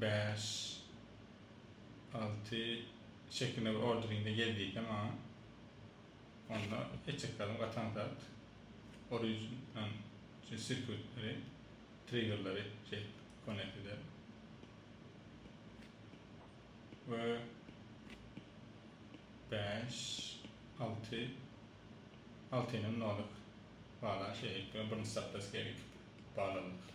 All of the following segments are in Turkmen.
bäş, alty şeklinde bir orderinde gel diýse maňa, onda etjeklerim gatan zat, origin, an, şu sirkütleri, triggerleri şeýdip connect ederin. We bäş, alty, altynyň nolik bala şeýdip, birinji sapda skeri iki balalyk.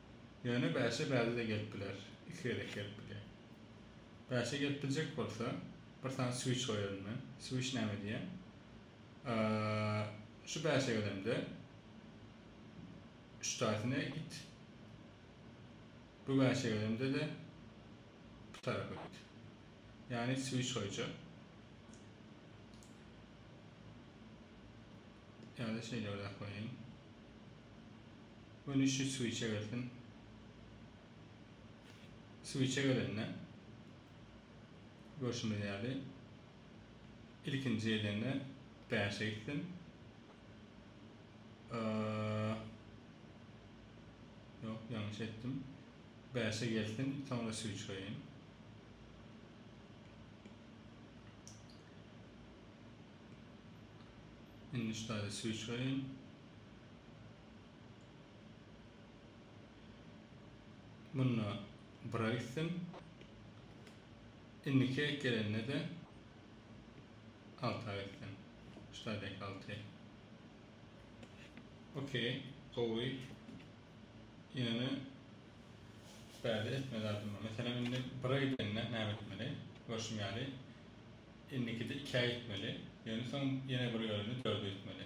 Ýöne bäşe bäde-de gelip biler, iki gezek gelip bilýär. Bäşe gelip biljek bolsa, bir sany switch goýaryn men. Switch näme diýýän? Şu bäşe gelemde, üç taýsyna git. Bu bäşe gelemde-de bu tarapa git. Ýagny switch goýjak. Ýa-da şeýle bir zat goýaýyn. Göni şu suwy içebilsin. Suwy içebilende görşümiz ýaly ilkinji gelende bäşe gitsin. Ýok, ýalňyş etdim. Bäşe gelsin, soňra suwy çykaýyn. Indi şu taýda suwy çykaýyn. Munda bira gitsin. Indiki gelende-de alta gitsin. Ştadyk alty. Okey, gowy. Ýöne bärde etme zadym bar. Meselem, indi bira gidende näme etmeli? Görşüm ýaly, indikide ikä gitmeli. Ýöne soň ýene bir ýörende dörde gitmeli.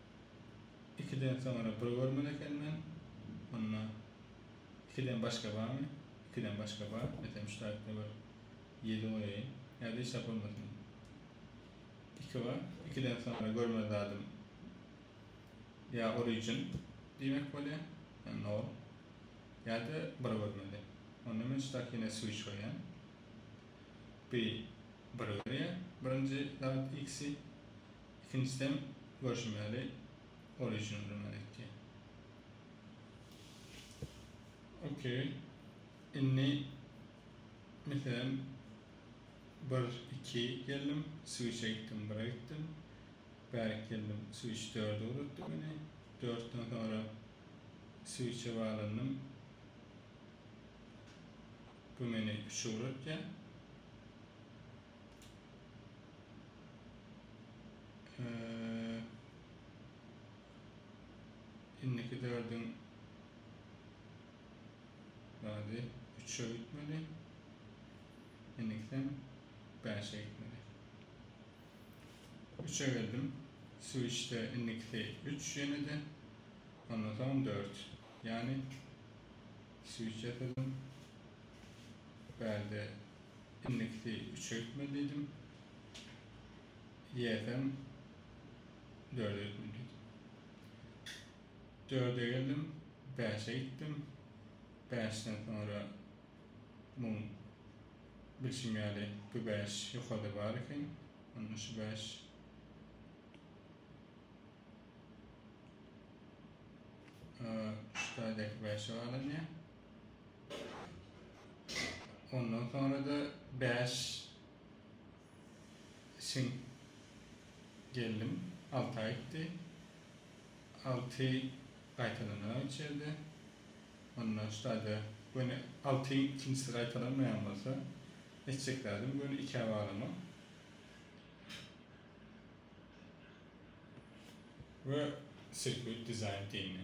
Ikiden soňra bir görmeli eken men. Onda ikiden başga barmy? Ikiden başga bar. Etem üç taýpda bir ýedi goýaýyn. Häzir hiç zat bolmasyn. Iki bar. Ikiden soňra görmeli zadym ýa origin diýmek bolýar, ýa nol, ýa-da bir görmeli. Onda men şu takine switch goýýan. Bi biri berýär, birinji zat x-i. Ikinjiden, görşümäli, ol işini öňünden etdi. Ok. Indi, meselem, bir, iki geldim, switch-e gitdim, bire gitdim. Bärik geldim, switch dörde uzatdy meni. Dörtden soňra switch-e baglanyndym. Bu meni üçe uzatýar. Indiki dördüň bady üçe gitmeli. Indiki sen bäşe gitmeli. Üçe geldim. Switchde indikisi üç ýene de. Ondan soň dört. Ýani switch ýasadım. Bärde Indikisi üçeltme diýdim. Ýesem dördeltme diýdim. Dörde geldim, bäşe gitdim. Bäşden soňra muň bilşim ýaly bu bäş ýokarda bar eken. Onda şu bäş şu taýdaky bäşe baglanyýar. Ondan soňra-da bäş şiň geldim. Alty aýtdy. Alty gaýtalanarag üç ýerde. Onda ştaýda göni altyň ikinjisi gaýtalanmaýan bolsa, etjek zadym göni ikä baglamak. We sirkuit dizaýn diýindi.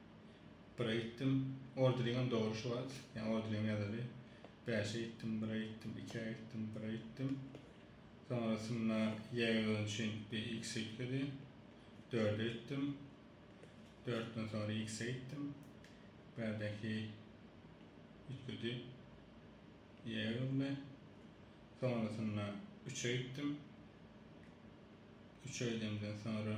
Bire gitdim. Orderiňem dogry şu wagt. Ýa orderiňem ýazaly. Bäşe gitdim, bire gitdim, ikä gitdim, bire gitdim. Soňrasynda ýeýgöni üçin bir X ýükledi. Dörde gitdim. Dörtden soňra X-e gitdim. Bärdäki ýükledi. Ýeýgöni. Soňrasynda üçe gitdim. Üçe gidemden soňra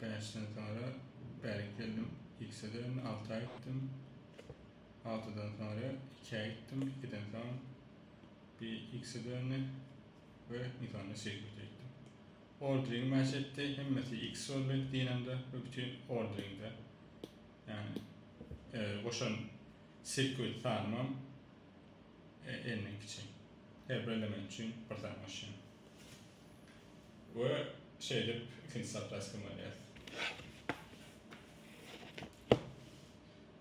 Bäşden soňra bärik geldim. Ikisede men alty aý gitdim. Altydan soňra iki aý gitdim. Ikiden soň bir ikisi döndi we iň soňunda Sirkute gitdim. Ordering mäş etdi. Hemmesi iks boldy Dinamda we bütin orderingde. Ýagny goşan sirkut sanymam elliň kiçi. Her bir element üçin bir sany goşýan. We şeýdip ikinji zapraskamy alýas.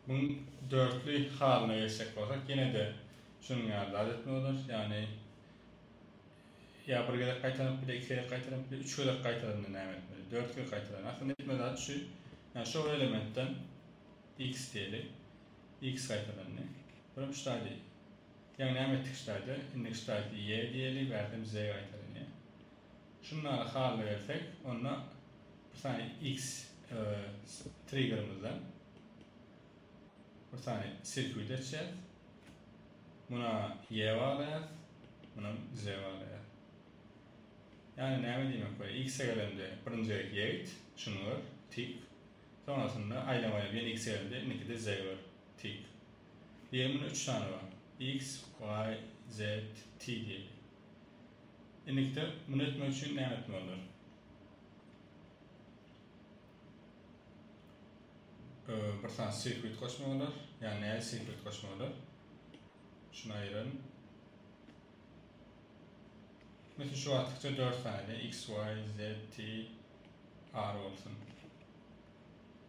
Muň dörtli halyna geçjek bolsak, ýene-de şunuň ýaly zat etmeli bolarys. Ýagny ýa bir gezek gaýtalanyp bile, iki gezek gaýtalanyp bile, üç gezek gaýtalanda näme etmeli? Dört gezek gaýtalanda. Aslynda etmeli zat şu. Ýa şo bir elementden x diýeli. X gaýtalandy. Birem şu zady Ýa näme etdik ştaýda, indi ştaýty ýe diýeli, bärde bize gaýtalanýar. Şundaly halda gelsek, onda bir sany X triggerymyzdan bir sany sirkuit etjäs. Muna ýe baglaýas, munam Z baglaýas. Ýani näme diýmek bolar? X-e gelende birinji gezek ýe it, şuny gör, tik. Soňasynda aýlama aýlap ýene X-e gelende indikide Z gör, tik. Diýen muny üç sany bar. X, Y, Z, T diýip. Indikde muny etmek üçin näme etmelidir? Bir sany sekret goşmak bolar. Ýa näi sekret goşmak bolar? Şunu aýyralym. Mesela şu wagtykça 4 sany X, Y, Z, T, R bolsun.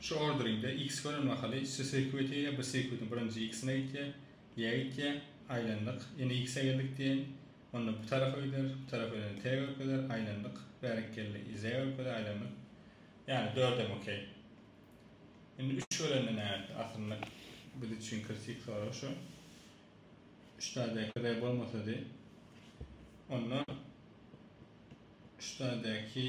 Şu orderiňde X gören mahaly şu söýküp öteýä, bu söýküdin birinji X-ine gitýä, ýä gitýä, aýlandyk, ine X-e geldik diýeýin, onda bu tarap öýder, bu tarap öýdende T görkezer, aýlandyk, bärekgelli, Z görkeze, aýlandyk, ýani dördem okey. Indi üç görende nätdi, aslynda biz üçin kritik sorag şu, üç dagy däkizäý bolmasady, onda üç dagy däki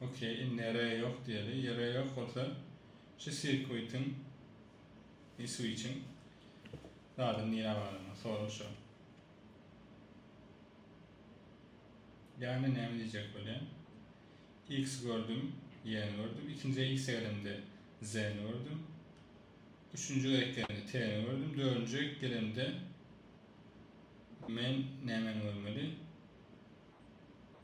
Ok indi ere ýok diýeli. Ere ýok bolsa şu sirkuitiň e switchiň zady nirä baranyny sorag şu. Ýagny näme diýjek bolýan. X gördüm, Y-ni gördüm. Ikinji X gelemde Z-ni gördüm. Üçünji gezek gelemde T-ni gördüm. Dördünji gezek gelemde men nämeni görmeli?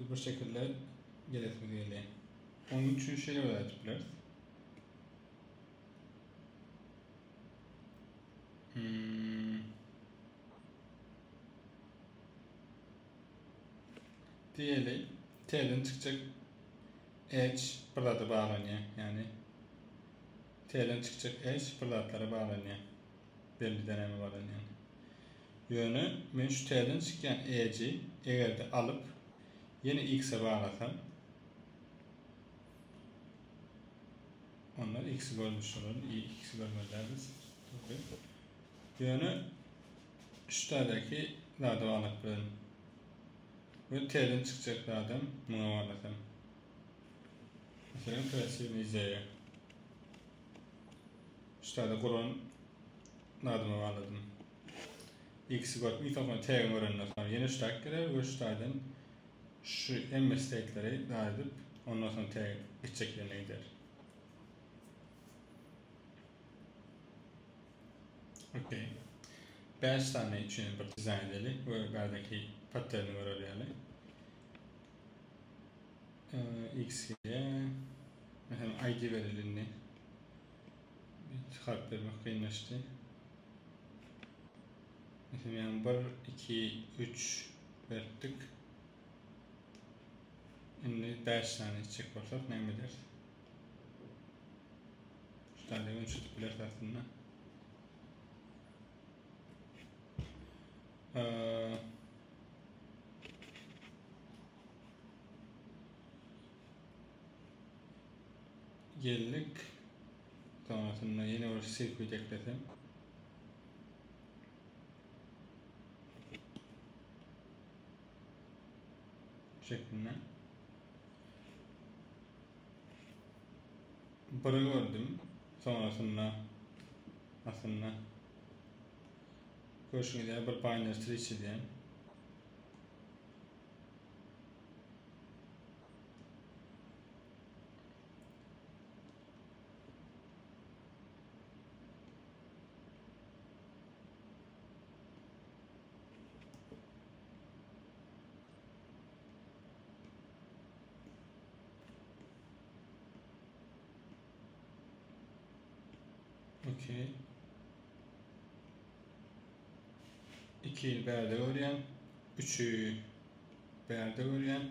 Biz bir şekilde gelesimiz gelýär. Onuň üçin şeýle bir zat bileris. Hmm. Diýeli, T-den çykjak H bir zada baglanýar. Ýagny T-den çykjak H bir zatlara baglanýar. Belli dänäme baglanýar. Ýöne men şu täzeden çykýan Edge-i eger-de alyp, ýene X-e balasam, onda X-i görmüş bolarin, y X-i görmeli däldiris. Dogry. Ýöne şu täzeki zady baglap bilerin. We täzeden çykjak zadam muňa baglasam. Meselem, kreatiwnyý ideýa. Şu täze guran zadyma bagladym. Ikisi görüp üýt alsaň tägini görenden soň ýene üç taýyk geler we üç taýdan şu hemme steýkleri dar edip ondan soň täýyk gitjek ýerine gider. Ok. Bäş sany üçin bir dizaýn edeli we bärdeki patterni görer ýaly. Ee, X-ge, meselem, ID bereli indi. Iki harp bermek kynlaşdy. Meselem, yani bir, iki, üç beripdik. Indi beş sani içecek bolsak, ne ederis? Şu tane gün çözüp bileris aslında. Ee, Geldik. Soňasynda ýene bir selfi çeklesem. Bu şekilde. Biri gördüm. Soňasynda aslynda görşüňiz ýaly bir banner tree çizýän. Okey. Iki bärde görýän, üçi bärde görýän.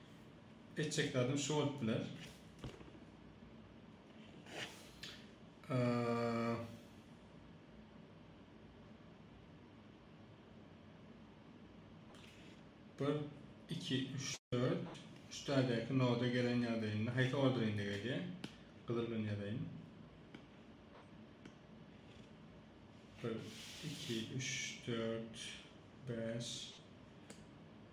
Etjek zadym şu bolup biler. Bir, iki, üç, dört. Üç tadaki noda gelen yadayında. Hayta order indi geliyor. Kızıl gün yadayın. Bir, iki, üç, dört, beş,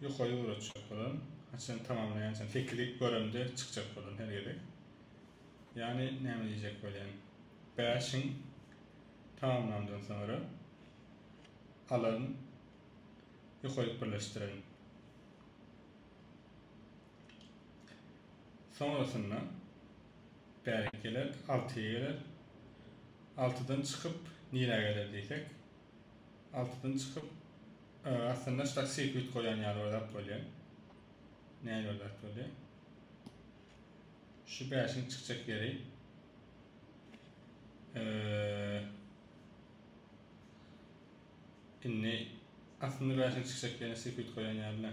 Ýoka ýöretjek bolan, haçan tamamlaýançam teklip göremde çykjak bolan her gezek. Ýani näme diýjek bolýan. Bäşiň tamamlandan soňra alan ýokaýyk birleşdiren. Soňrasynda Bärik geler, altyýa geler. Altydan çykyp, nirä geler diýsek, altydan çykyp, aslynda şda sirkuit goýan ýaly bir zat bolýar. Nähili bir zat bolýar? Şu bäşiň çykjak ýeri indi aslynda bäşiň çykjak ýerine sirkuit goýan ýaly-da.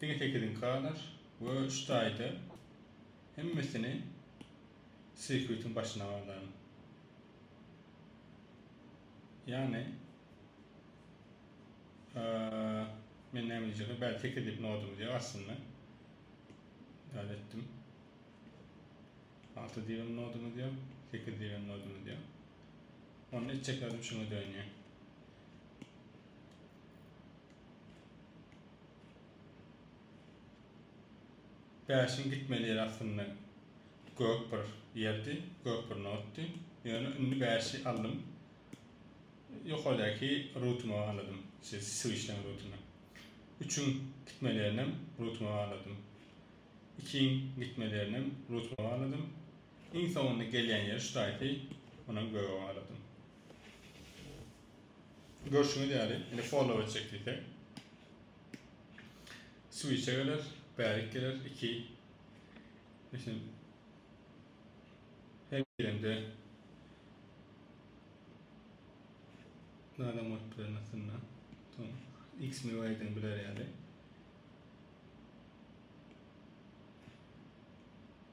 Diňe sekiziňki galaş we şu taýda hemmesini sirkütiň başyna galaň. Ýagny men näme diýjekdim, bäri sekiz diýip nodum diýýär aslynda. Dal etdim. Alty diýip nodum diýýär, sekiz diýip nodum diýýär. Onda etjeklerim şuňa dönýär. Bäşiň gitmeli ýeri aslynda gök bir ýerdi, gök bir notdy. Ýöne indi bäşi aldym. Ýokardäki rutuma bagladym. Şu swişleň rutuny. Üçiň gitmeli ýerinem rutuma bagladym. Ikiň gitmeli ýerinem rutuma bagladym. Iň soňunda gelýän ýeri şu taýpy onam göge bagladym. Görşüňiz ýaly, indi follow etjek diýseň. Switch-e geler, bärik geler, 2. Meselem, her girende Nada mod bilen aslynda. Tamam. X mi Y-den biler ýaly.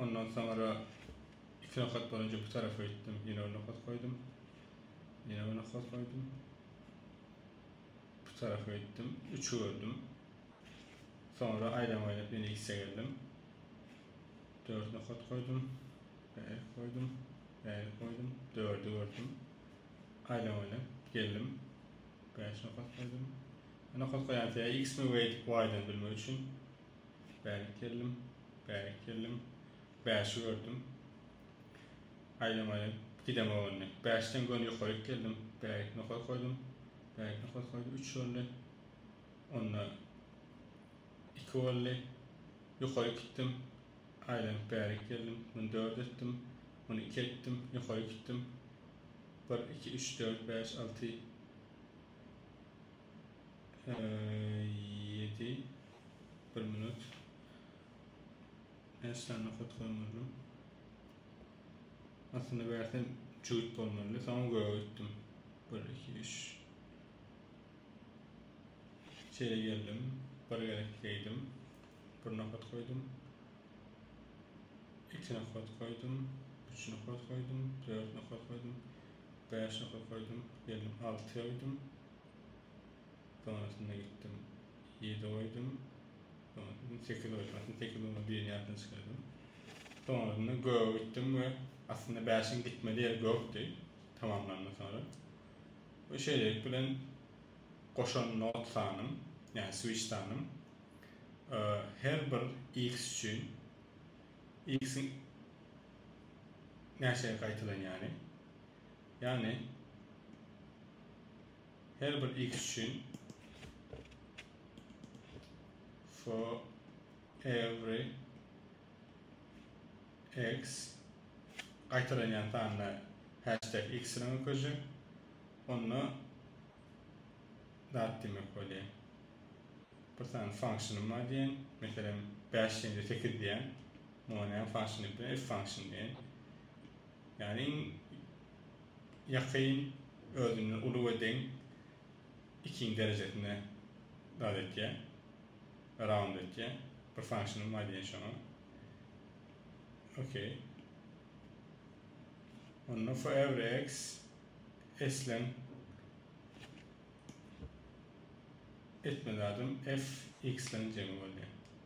Ondan soňra iki nokat bolunca bu tarafa gitdim. Ýene bir nokat goýdum. Ýene bir nokat goýdum. Bu tarafa gitdim. Üçi gördüm. Soňra aýdan oýnap ýene ikisä geldim. Dört nokat goýdum. Bärik goýdum. Bärik goýdum. Dördi gördüm. Aýdan oýnap geldim. Bäş nokat goýdum. Nokat goýan ýa x-mi we y-dan bilmek üçin Bärik geldim, bärik geldim, Bäşi gördüm, Aýlamaýyn, gidem ogulny. Bäşden göni ýokaryk geldim, Bärik nokar goýdum, Bärik nokar goýdum, üç boldy, Onda iki boldy, Ýokaryk gitdim, Aýlanyp bärik geldim, Muny dört etdim, Muny iki etdim, Ýokaryk gitdim, Bir, iki, üç, dört, bäş, alty. Ýedi, bir minut. Näçe sany nokat goýmaly? Aslynda bärsi jübüt bolmalydy. Soňam göge gitdim. Bir, iki, üç. Şeýle geldim. Bir gezek geýdim. Bir nokat goýdum. Iki nokat goýdum. Üç nokat goýdum. Dört nokat goýdum. Bäş nokat goýdum. Geldim alty goýdum. Soňrasynda gitdim, ýedi goýdum. Soňrasynda sekiz goýdum. Aslynda sekiz goýman birini ýatdan çykardym. Soňrasynda göge gitdim we aslynda bäşiň gitmeli ýeri gökdi tamamlandan soňra. We şeýlelik bilen goşan not sanym, ýagny switch sanym e, her bir x üçin x-iň näçe gaýtalanýany Ýagny her bir x üçin for every x gaýtalanýan sanda hashtag x-ine öküzjek. Onda zat diýmek bolýar. Bir sany function-ym bar diýen. Meselem, bäş ýene-de sekiz diýen. Muňa näme function diýip bilen? F function diýen. Ýagny iň ýakyn özüne uly we deň ikinji derejesine zat etýär, round etýär. Bir function bar diýen şoňa. Okey. Onda for every x eslen etme zadym f x-den jemi bolýar.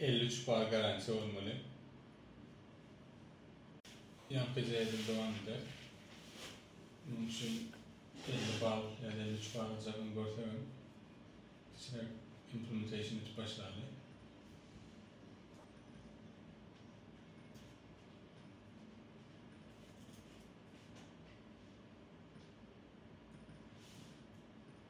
Elli üç bar garantiýa bolmaly. Ýaňky jedel dowam eder. Munuň üçin elli bal ýa-da elli üç bal aljagyny görsek hem kiçiräk implementation edip başlaly.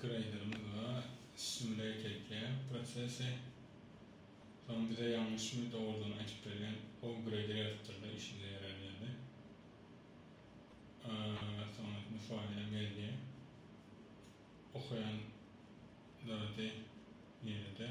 Graderimiz bar. Simulate edýär prosesi. Soň bize ýalňyşmy, dogrudygyny aýdyp berýär. How grader ýazypdyrda işimize ýarar ýaly. Soňra müsuraýam gelýär. Okaýan zady nirede?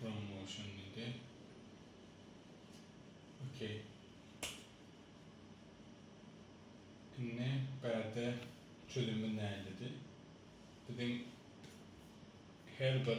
Promotion diýdi. Okey. Indi bärde çözümi nädedi? Biziň her bir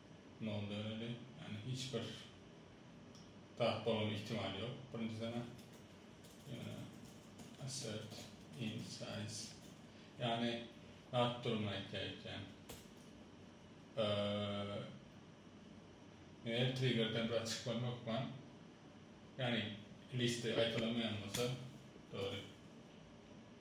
Noldan öli, ýagny hiç bir zat bolmagynyň ihtimaly ýok, birinji sana. Ýöne assert in size, ýagny zat durumyny aýtýar ekýän. Eee el triggerden zat çykmany hökman, ýagny liste gaýtalanmaýan bolsa, dogry.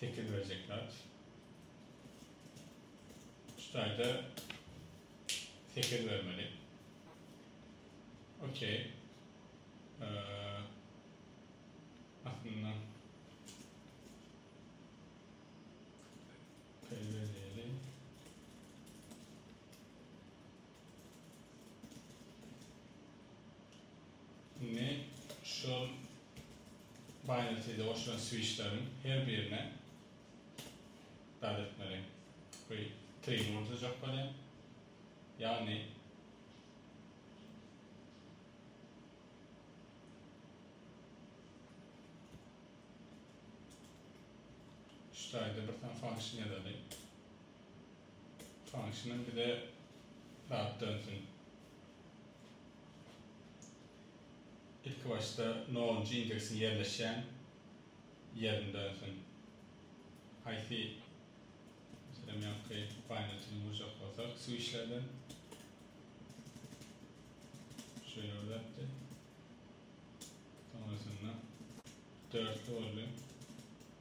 Sekiz we zekat. Şu taýda sekiz bermeli. Okey. Aslynda Peyverdeli. Indi şol binary-de goşulan switchleriň her birine zat etmeli. Bu trigini urdurjak bolýar. Ýagny şu taýda bir sany function ýazaly. Tanyşyna bize zat dönsün. Ilki başda nonunjy indeksiň ýerleşýän ýerini dönsün. Haýsy meselem ýaňky upaýnajyny urjak bolsak swişlerden şeýle bir zatdy. Soňrasynda dörtli boldy.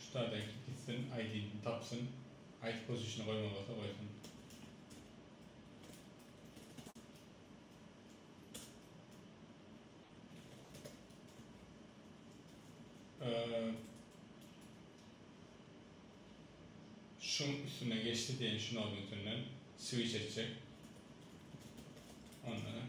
Şu taýdan gitsin aýdin tapsyn. Aýt pozişini goýmaly bolsa goýsun. Şuň üstünden geçdi diýen şu nodyň üstünden swiç etjek. Ondanam.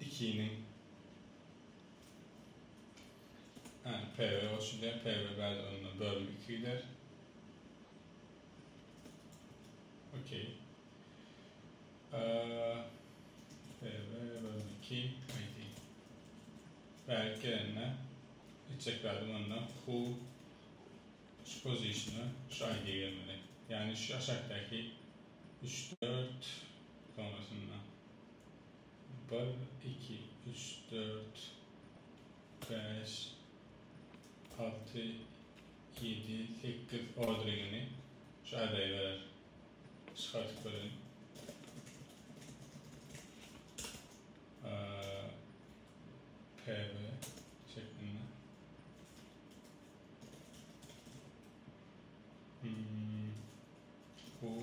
ikiniň Hä, PB boş gider, PB bäri onda bölünip iki gider. Okey. PB bölünip iki, aydi. Bärik gelenine etjek bärim onda who şu pozisiona şu aydi gelmeli. Yani şu aşakdaki 3, 4 sonrasında. Bir, iki, üç, dört, bäş, alty, ýedi, sekiz ordringini şu aýdaýberer. Çykardyp göreýin. PB şeklinde. Bu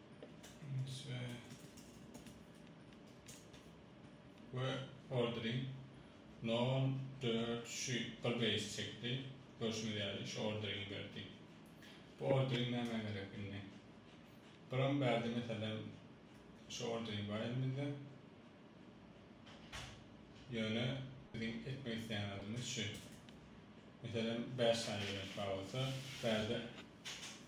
Enişte we ordering nol dört şu bir beýs çekdi görşüňiz ýaly şu orderingi berdi bu ordering nämä gerek indi biram bärde meselem şu ordering bar elimizde ýöne biziň etmek isleýän zadymyz şu meselem bäş sany element bar bolsa bärde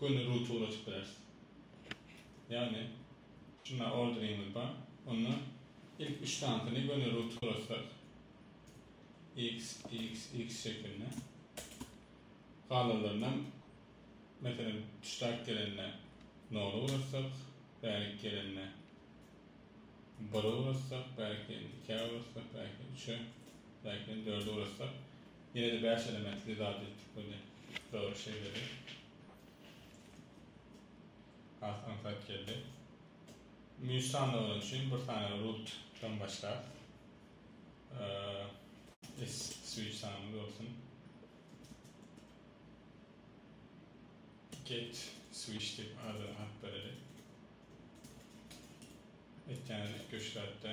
Göni rutura açyp bileris. Ýagny şunda orderiňiz bar. Onda ilk üç sanysyny göni rutura açsak. X, X, X şeklinde. Galanlarynam meselem tüştäk gelende nola ugratsak, bärik gelende bire ugratsak, bärik gelende ikä ugratsak, bärik gelende üçe, bärik gelende dörde ugratsak Ýene-de bäş elementli zat etdik göni dogry şeýledi. Has aňsat geldi. Münş sanawlary üçin bir sany root dan başlap S switch sanymyz bolsun. Get switch diýip adyny at bereli. Etýäniz üýtgeşik zatda.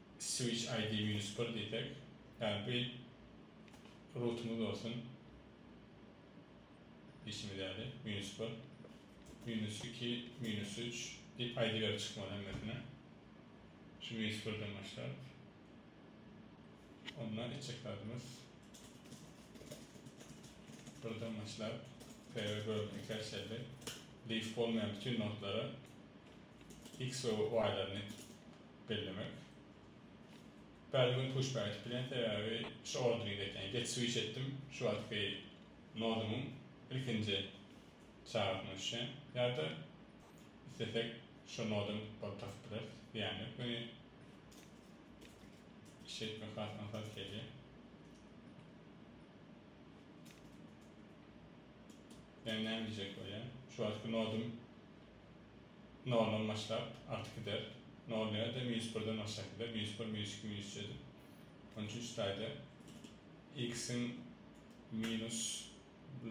Switch ID minus bir diýsek, ýagny bir rutumyz bolsun diýşimiz ýaly, minus bir, minus iki, minus üç diýip ID berip çykmaly hemmesine. Şu minus birden başlap, onda etjek zadymyz birden başlap p-e bölündi, kerçeldi. Leaf bolmaýan bütin nodlara x we y-laryny bellemek. Päli gün küşbä gidip bilen, sebäbi şu orderiň zekäni geç switch etdim, şu wagtky nodumyň ilkinji çagasyna düşýän, ýa-da islesek şu nodam bolup tapyp bileris, zyýany ýok, ýöne işi etmek has aňsat gelýär. Ýöne näme diýjek bolýan, şu wagtky nodum. Noldan başlap, arty gider. Nol nädem ýüz birden aşak gider. Ýüz bir, ýüz iki, ýüz ýedi. Şonuň üçin şu taýda x-iň minus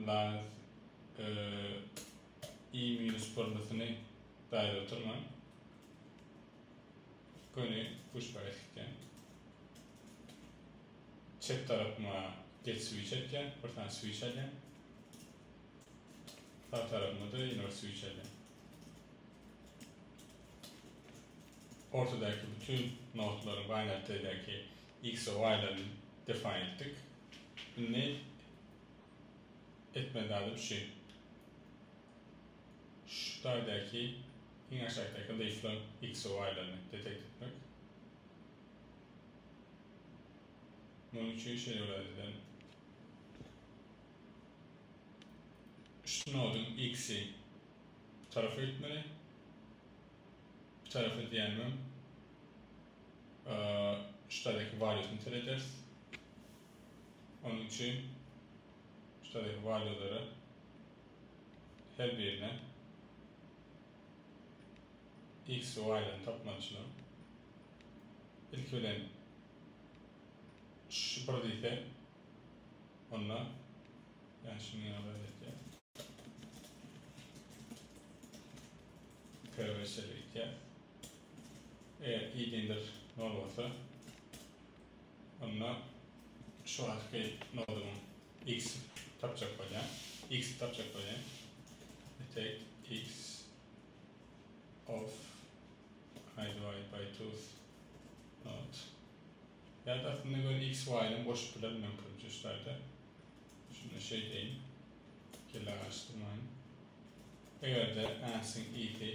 laz i minus birlisyny daýry oturman, göni üç pähek çekýän. Çep tarapyma get switch etýän, bir sany switch alýan. Sag tarapyňda-da ýene bir switch elde. Ortadaky bütin nodlaryň binary taýdäki X we Y-laryny define etdik. Indi etmeli zadym şu. Şu taýdaky iň aşakdaky leaflaň X we Y-laryny detect etmek. Munuň üçin şeýle bir zat edeliň. Şnowden X-i bitarap etmeli. Bitarap edýänimem ştadyky walýutyny serederis. Onuň üçin ştadyky walýulara her birine X we Y-laryny tapmaly şularyň. Ilki bilen şu bir diýse. Walla men şuny ýaly etýän. Köge şeýle etýär. Eger idindir nol bolsa onda şu wagtky nodumyň x tapjak bolýan. X tapjak bolýan. Etek x of i divided by two node. Ýa da aslynda göni X Y bilen goşup bilerin men köpinje şu taýda. Şunda şeýdeýin. Kelle garyşdyrmaýyn. Eger-de Ansyn ýiti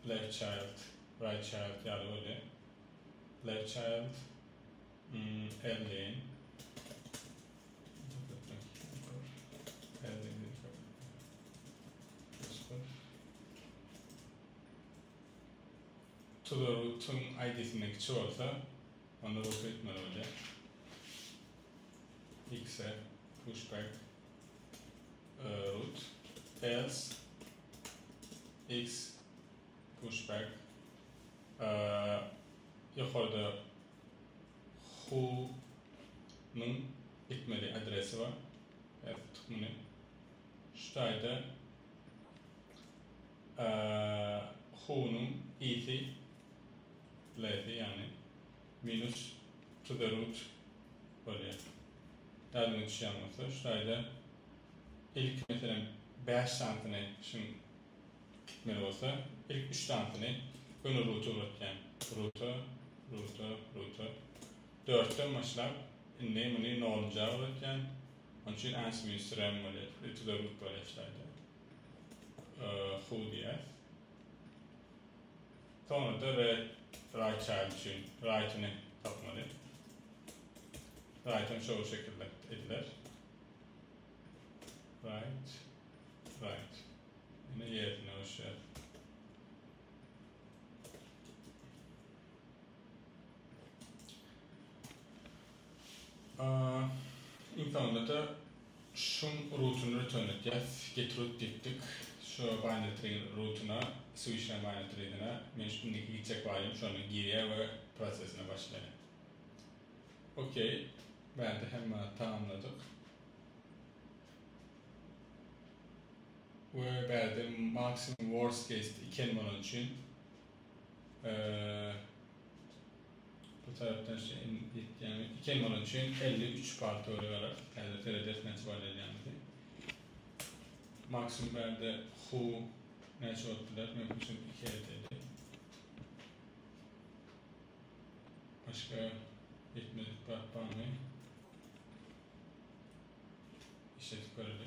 left child, right child ýaly bolýa. Left child L deýin. Tuzagy tuzuň aýdysyna kiçi bolsa, onda bu hökmany bolýar. Exa, pushback, root, else, ex, pushback, ýokarda who nyň etmeli adresi bar. Häzir tutduk muny. Şu taýda. Hunyň isi, Lesi, ýagny minus to the root bolýar. Ýadyňa düşýän bolsa, şu taýda ilki meselem bäş sanysyny aýtmyşyň gitmeli bolsa, ilk üç sanysyny göni ruta ugratýaň. Ruta, ruta, ruta. Dörtden başlap, indi muny nollunja ugratýaň. Onuň üçin Äsimiz sürän bolýar, ütüge gidip garaşýardy. Huw diýýär. Soňra-da Red Raýçaýl üçin Raýtyny tapmaly. Raýtam şo şekilde ediler. Raýt, Raýt. Ine ýerine goşýar. Internete şum rutini rötenletýäs. Get root diýipdik. Şu binary tree rutuna switchlän binary treesine men şu indiki gitjek baýym şony girýär we prosesine başlaýar. OK. Bärde hemme tamamladyk. We bärde maksimum worst case iki n bolany üçin Bu tarapdan şu in ýetýämi? Iki elma bolan üçin elli üç bal töweregi alar. Häzir serederis näçe bal elýämizi. Maksimum bärde hu näçe bolup biler? Mümkinçilik iki edeli. Başga ýetmezlik zat barmy? Işletip göreli.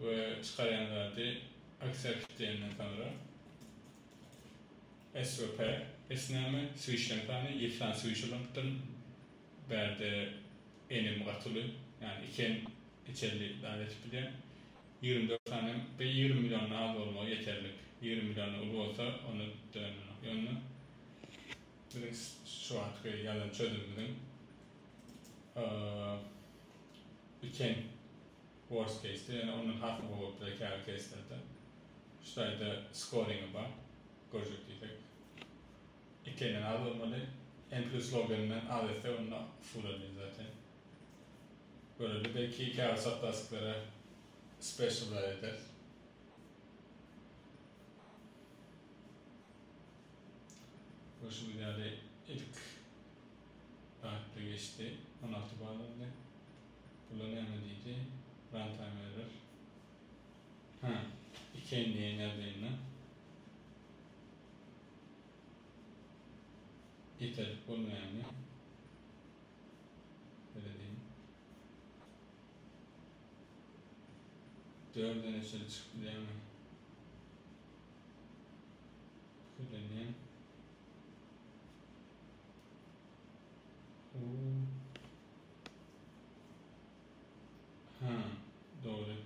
we çykarýan zady aksiýa kitleýänden soňra SVP esnäme swişden sany ýysan swiş ulanypdyryn bärde enim gaty uly ýany iki en içeli zat etip bilýän ýigrimi dört sany hem bir ýigrimi million az bolmagy ýeterlik ýigrimi million uly bolsa onda dönenok ýöne biziň şu wagtky ýazan çözümimiziň iki en. Worst case-de ýöne ondan hasyl bolup zekäli case-lerde şu taýda scoring-i bar. Görjek diýsek ikiden az bolmaly. N plus log n-den az etsek onda usul edeli zaten. Göreli belki käbir saplastiklara special zat ederis. Görşüňiz ýaly ilk rahatly geçdi. On alty ball aldy. Bula näme diýdi? Runtime error. Hä, ikeýin diýen ýagdaýynda ýeterlik bolmaýanmy? Serediň. Dördene çenli çykyp bilýärmi? Pikirlenýän. Huu. Hää, dogry.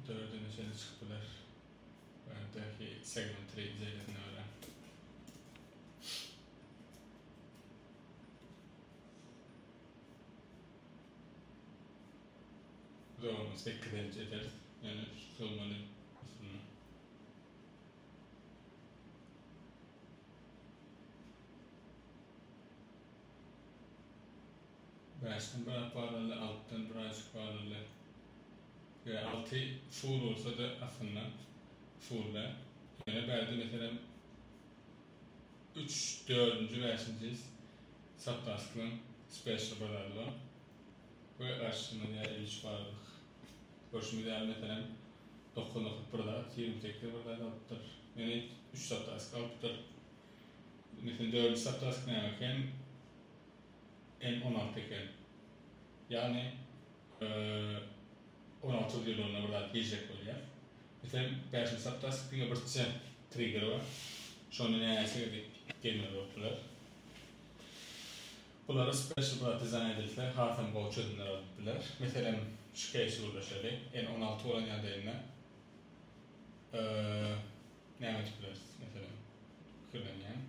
Dördüne çenli çykyp biler. Öňdäki segment reýdjerinden görä. Zormy, sekizenji ederis. Ýöne tutulmaly aslynda. Bäşden biraz barlaly, altydan birazjyk barlaly we alty usul bolsa-da aslynda usul däl. Ýöne bärde meselem üç, dördünji, bäşinji saptastklaň speshal bazary bar. we garşysynda ne iş bardyk. Görşümiz ýaly, meselem, dokuz nokat bir zat, ýigrimi sekiz bir zat alypdyr. Ýöne üç saptask alypdyr. Meselem, dördünji saptask näme eken? N on alty eken. Ýagny, on alty ýylynda bir zat girjek bolýar. Meselem, bäşinji saptask diňe birçe trigger bar. Şonda näçe gezek gelmeli bolupdyr? Bulary special-bratizan edilse hasam gowy çözümler bolup biler. Meselem, şu keýsi gürleşeli. N on alty bolan ýagdaýynda näme edip bileris? Meselem, pikirlenýän.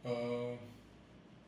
N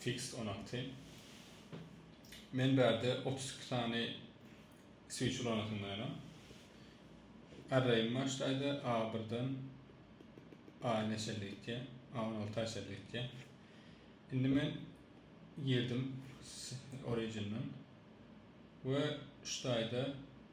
Fixed on atdy. Men bärde 32 sany switch ulanasyndaýynam. Array'im başlaýda A1-den A-na çenli gitýär. A16-a çenli gitýär. Indi men girdim origin'den we şu taýda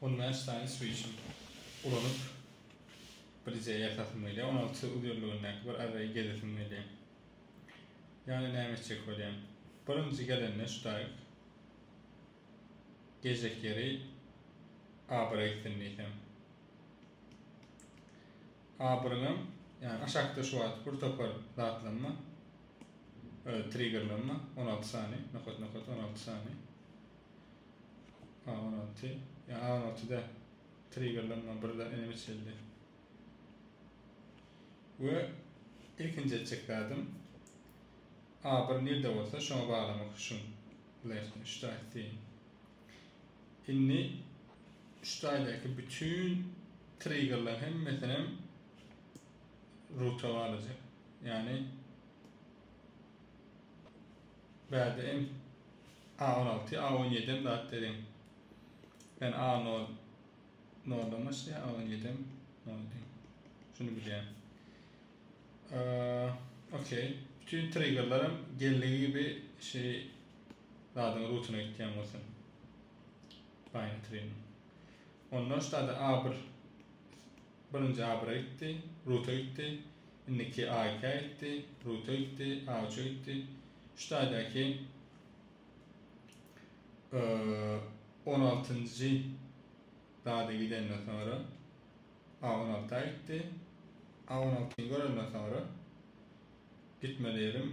On bäş sany süýşüm ulanyp, birje ýatasym gelýär. On alty uzyrlygyndaky bir arraýy gezesim gelýär. Ýagny näme etjek bolýan? Birinji gelende şu daýyk gezek ýeri abyra gitsin diýsem. Abrylym ýa aşakda şu wagt bir topar zatlanma e, triggerlanma on alty sany nokat nokat on alty sany a on alty ýa a on altyda triggerlanma bir zat ene biçildi we ilkinji etjek zadym a bir nirde bolsa şoňa baglamak üçin left üçde aýtdy Indi şu taýdaky bütün triggerler hemmesinem ruta galacak. Yani bärde hem A16, A17 hem zat dedim. Ben A0 noldan başlaýar, A17 hem noldan. Şunu bilýän. Ee, okey. Bütün triggerlerim geldiği gibi şey Zadyň rutyny aýtýan bolsaň. Baýny trin. Ondan ştada A bir. Birinji A bire gitdi. Ruta gitdi. Indiki A ikä gitdi. Ruta gitdi. A üçe gitdi. Ştaýdaky on altynjy zada gidenden soňra A on alta gitdi. A on altyny görenden soňra gitmeli ýerim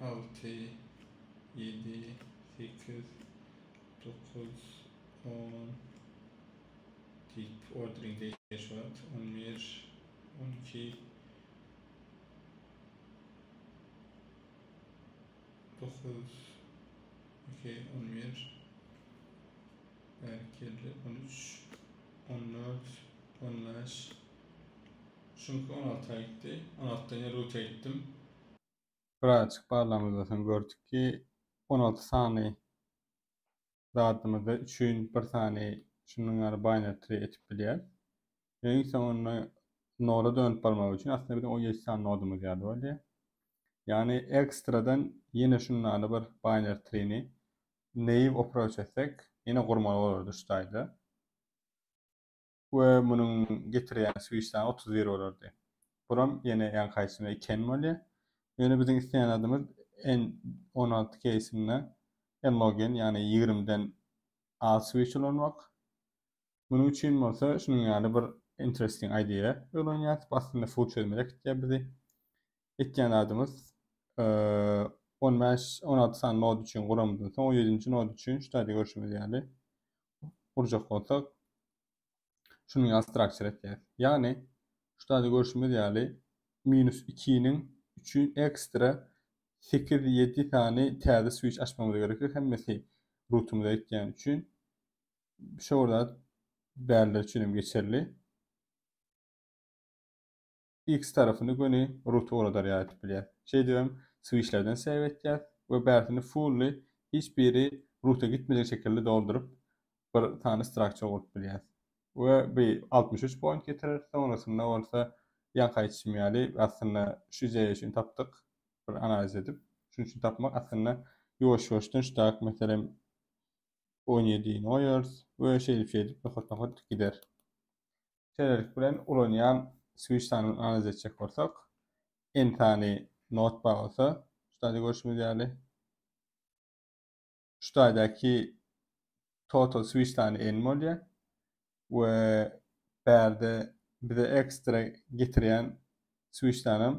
Alty, ýedi, sekiz, dokuz, on, diýip, ordering degişýär şu wagt. On bir, on iki, dokuz, okey, on bir, bärkelli, on üç, on dört, on bäş, şuňky on alta gitdi. On altydan ýene rute gitdim. birazajyk barlagymyzda soň gördük ki, on alty sany zadymyzda üçin bir sany şunuň ýaly binary-tree etip bilýäris. Öň soňunda noda dönüp barmak üçin aslynda biziň on ýedi sany nodumyz ýaly bolýar. Ýagny ekstradan ýene şunuň ýaly bir binary-tree-ni naive approach etsek, ýene gurmaly bolardy şu taýda. we munuň getirýän switch sany otuz bir bolardy. Buram ýene ýaňky aýtdym iki n bolýar. Ýöne biziň isleýän zadymyz n on alty keýsinde n log n ýagny ýigrimi den az switch ulanmak. Munuň üçin bolsa şunuň ýaly bir interesting idea ögrenýäris. Bu aslynda full çözmä äkitýär bizi. Etýän zadymyz on bäş on alty sany nod üçin guramyzdan soň on ýedinji nod üçin şu taýda görşümiz ýaly gurjak bolsak, şunuň ýaly struktur etýäris. Ýagny, şurada görşümiz ýaly, minus ikiniň üçin ekstra sekiz, ýedi sany täze switch açmamyz gerekdir, hemmesi rutumyza ýetýäni üçin. Şo bir zat bäriler üçin hem geçerli. X tarapyny göni root ugradarýar aýdyp bilýäs. Şeýdip hem switchlerden save etýäs we bärsini fully hiç biri roota gitmejek şekilde dolduryp bir sany structure gurup bilýäs. We bu altmyş üç point getirer, soňrasynda bolsa ýaňky aýdyşym ýaly aslynda şu ideýa üçin tapdyk bir analiz edip. Şunuň üçin tapmak aslynda ýuwaş ýuwaş dynçdak meselem on ýedi goýarys we şeýdip şeýdip nokat nokat gider. şeýlelik bilen ulanýan switch sanyny analiz etjek bolsak, N sany not bar bolsa, şu taýda görşümiz ýaly, şu taýdaky total switch sany N bolýar we bärde bize ekstra getirýän switch sanam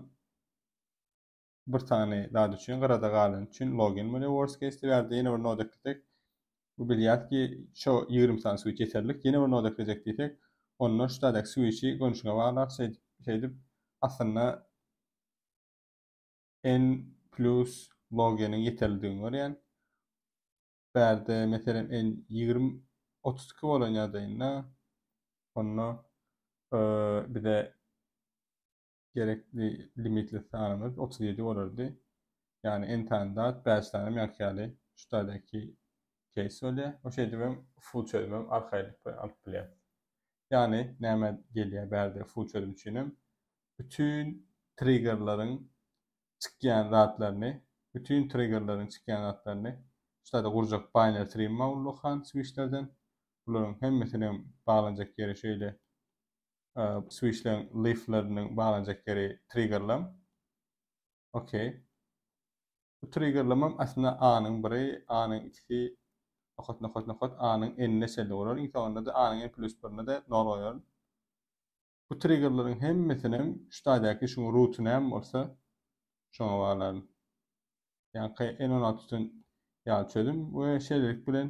bir sany zat üçin gyrada galany üçin login bolýar worst case dip ýazdy ýene bir noda eklesek bu bilýär ki şo ýigrimi sany switch ýeterlik ýene bir noda eklesek diýsek onda şu taýdaky switchi görnüşine baglap şeýdip aslynda n plus loginiň ýeterlidigini görýän bärde meselem n ýigrimi otuz iki bolan ýagdaýynda onda bize gerekli limitli sanymyz otuz ýedi bolardy. Ýagny entan dat bäş sanym ýaňky ýaly şu taýdaky keýs bolýar. O şeýdip hem full çözüm hem arkaýynlyk bilen alyp bilýär. Ýagny näme gelýär bärde full çözüm üçin hem bütün triggerleriň çykýan zatlaryny, bütün triggerleriň çykýan zatlaryny şu taýda gurjak binary tree maulluk han switchlerden. Bularyň hemmesiniň baglanjak ýeri şeýle switchleň lifleriniň baglanjak ýeri triggerlam. Okey. Bu triggerlamam aslynda A-nyň biri, A-nyň ikisi nokat nokat nokat A-nyň n-ne çenli bolar. Iň soňunda-da A-nyň n plus birine de nol goýaryn. Bu triggerleriň hemmesinem şu taýdaky şuň ruty näme bolsa şoňa baglaryn. Ýaňky n on alty üçin ýaly çözüm we şeýlelik bilen